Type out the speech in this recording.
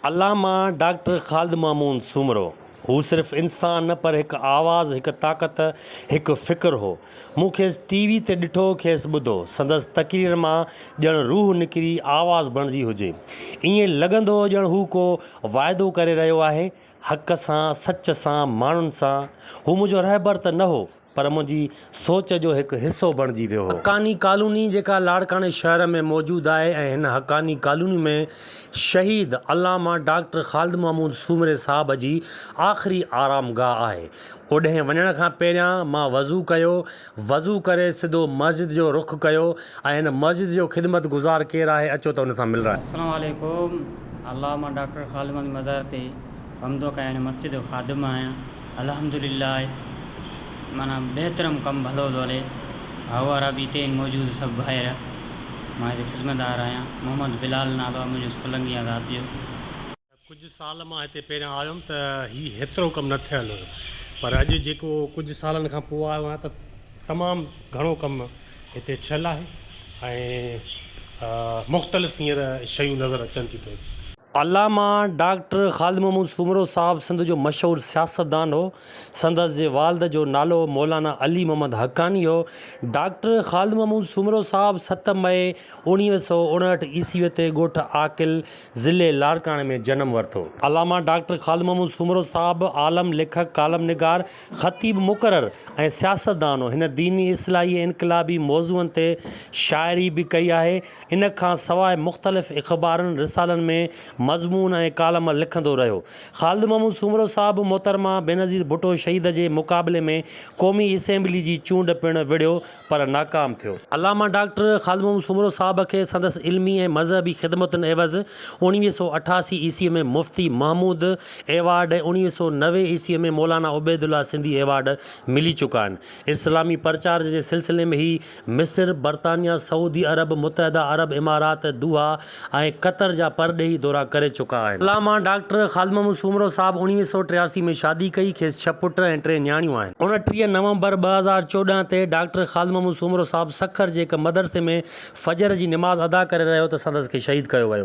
علامه doctor Khalid Mahmood Soomro, هو صرف انسان نه پر هڪ آواز، هڪ طاقت، هڪ فڪر هو. مون کيس ٽي وي تي ڏٺو، کيس ٻڌو. سندس تقريرن مان ڄڻ روح نڪري آواز بڻجي هجي. ائين لڳندو هو ڄڻ هو ڪو واعدو ڪري رهيو آهي، حق سان، سچ سان، ماڻهن سان. هو منهنجو رهبر ته نه هو. پر منهنجي سوچ جو هڪ حصو بڻجي ويو هو. حقاني ڪالوني جيڪا لاڙڪاڻي شهر ۾ موجود آهي ۽ هن حقاني ڪالوني ۾ شهيد علامه ڊاڪٽر خالد محمود سومري صاحب جي آخري آرام گاهه آهي. اوڏهين وڃڻ کان پهريان مان وضو ڪيو. وضو ڪري سڌو مسجد جو رخ ڪيو ۽ هن مسجد جو خدمت گذار ڪير آهي اچو ته ان سان ملرائي. السلام عليڪم علامه ڊاڪٽر خالد محمود مزار تي حمد و ڪيان مسجد جو خادم آهيان. الحمدلله معنيٰ بهترم ڪم ڀلو ٿو هلي هائو وارا به هتي آهن موجود سڀ ڀائر مان هتي خذمتدار آهيان محمد بلال نالو آهي منهنجو سولنگي آهيان ذات جو. ڪجهه سال مان هتي پهريان آيو هيم ته هي هيترو ڪم نه ٿيل هيو پر اڄ جيڪو ڪجهه سالن کان پوء آيو آهيان ته تمام گهڻو ڪم هتي ٿيل آهي ۽ مختلف هينئر شيون نظر اچن ٿيون پيون. علامه ڊاڪٽر خالد محمود سومرو صاحب سنڌ جو مشهور سياستدان هو. سندس جي والد جو نالو مولانا علي محمد حقاني هو. ڊاڪٽر خالد محمود سومرو صاحب ست مئي اوڻيهه سؤ اڻهٺ عيسويء تي ڳوٺ عاقل، ضلعي لاڙڪاڻي ۾ جنم ورتو. علامه ڊاڪٽر خالد محمود سومرو صاحب عالم، ليکڪ، ڪالم نگار، خطيب مقرر ۽ سياستدان هو. هن ديني، اصلاحي ۽ انقلابي موضوعن تي شاعري به ڪئي آهي. ان کان سواء مختلف اخبارن، رسالن ۾ مضمون ۽ ڪالم لکندو رهيو. خالد محمود سومرو صاحب محترمه بينظير ڀٽو شهيد جي مقابلي ۾ قومي اسيمبلي جي چونڊ پڻ وڙهيو پر ناڪام ٿيو. علامه ڊاڪٽر خالد محمد سومرو صاحب کي سندس علمي ۽ مذهبي خدمتن عيوض اوڻويهه سؤ اٺاسي عيسوي ۾ مفتي محمود ايوارڊ ۽ اوڻويهه سؤ نوي عيسوي ۾ مولانا عبيدالله سنڌي ايوارڊ ملي چڪا آهن. اسلامي پرچار جي سلسلي ۾ هي مصر، برطانيا، سعودي عرب، متحده عرب امارات، دوحا، ۽ قطر جا پرڏيهي دورا ڪري چڪا آهن. علامه ڊاڪٽر خالد محمود سومرو صاحب اڻويهه سؤ ٽياسي ۾ شادي ڪئي، کيس ڇهه پٽ ۽ ٽي نياڻيون آهن. اڻٽيهه نومبر ٻه هزار چوڏهن تي ڊاڪٽر خالد محمود سومرو صاحب سکر جي هڪ مدرسي ۾ فجر جي نماز ادا ڪري رهيو ته سندس کي شهيد ڪيو ويو.